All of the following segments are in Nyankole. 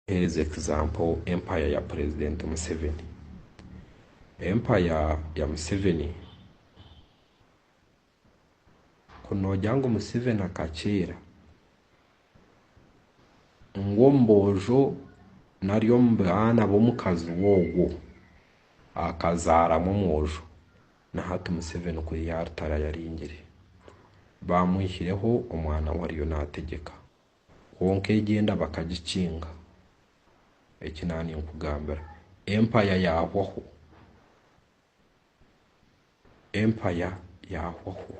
Mpereza example empire ya president museveni empire ya museveni ku nogira ngu museveni akakyera ngu omuboojo nari omubaana bomukazi we ogwo akazaramu omwojo na hati museveni ku yaritara yaringire bamwihireho omwana we ariyo nategyeka. Kwonka egyo enda bakagikinga. Eki na ninkugambira, Empaya yaahwaho. Empaya yaahwaho.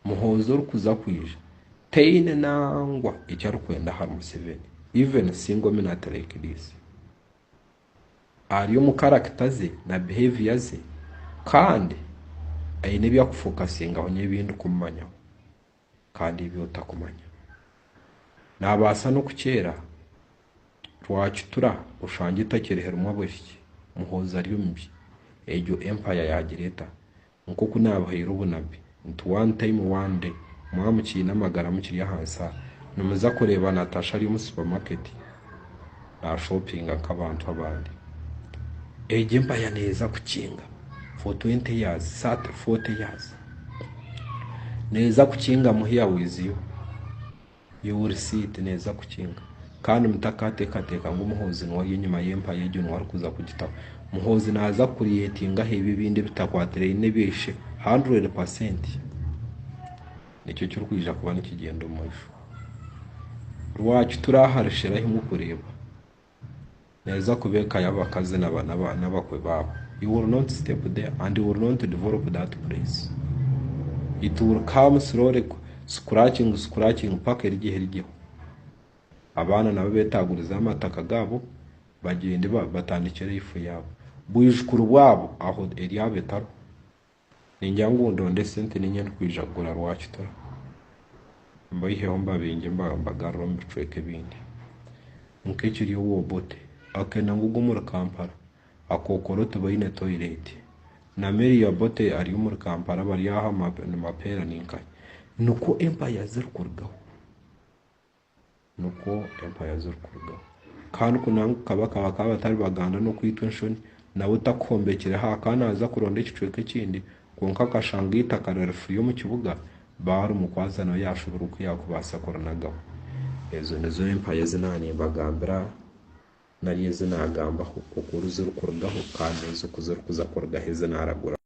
Muhoozi orikuza kwija taine nangwa eki arikwenda ahari Museveni, even single minute like this. Ari omu character ze na behaviour ze kandi aine ebi akufokasingaho nyebi ndikumumanyaho. kandi ebi otakumanya. Naabaasa n'okukyera rwakitura oshange etakyerihiremu abahiki, Muhoozi ari omu bi egyo Empire yaagira eta? Nk'oku naabahaire obunabbi nti one time one day mwaba mukiine amagara mukiri ahansi aha, nimuza kureeba Natasha ari omu supermarket. naashopinga nk'abantu abandi. Egyo empaya neeza kukinga for twenty years, thirty, forty years. Neeza kukingamu here with you. You will see it neeza kukinga. Kandi mutakateekateeka ngu Muhoozi niwe ari enyima y'empaya egyo niwe arikuza kugitaho. Muhoozi naaza ku creatingaho ebyo ebindi ebitakwatiraine n'ebya ishe hundred percent. nikyo kirikwija kuba nikigyenda omu maisho. Rwaki turi ahari shera ahi murikureeba? Neeza kuba eka y'abakazi n'abakwe baabo. You will not step there and you will not develop that place. It will come slowly scratching scratching paka erigiho erigiho. Abaana nabo beetagurize amataka gaabo bagyende batandikye life yaabo. Bwijukuru bwabo aho eryabo etariho. Ningira ngu ndonde sente niinye ndikwija kugura rwakita mbaiheho mbabingye mbagarure omu bicweka ebindi. Nk'ekiri owa Obote akenda ngu ogwo omuri Kampala akokoro tibaine toilet. Na Mary ya Obote ari omuri Kampala bari aha nimapeera ninkahe. Nikwo empaya zirikurugaho. Nikwo empaya zirikurugaho. Kandi ku nangwa ka bakaba ka batari Baganda n'okwitwa enshoni, nawe takuhombekireho aha ka naaza kuronda ekicweka ekindi, kwonka akashanga eitaka riri furi omu kibuga, baarimukwatsa nawe yaashubura oku yaakubaasa kurinagaho. Ezo nizo empaya ezi naaba nimbagambira nari ezi naagambaho oku zirikurugaho kandi n'oku zirikuza kurugaho ezi naaraguraho.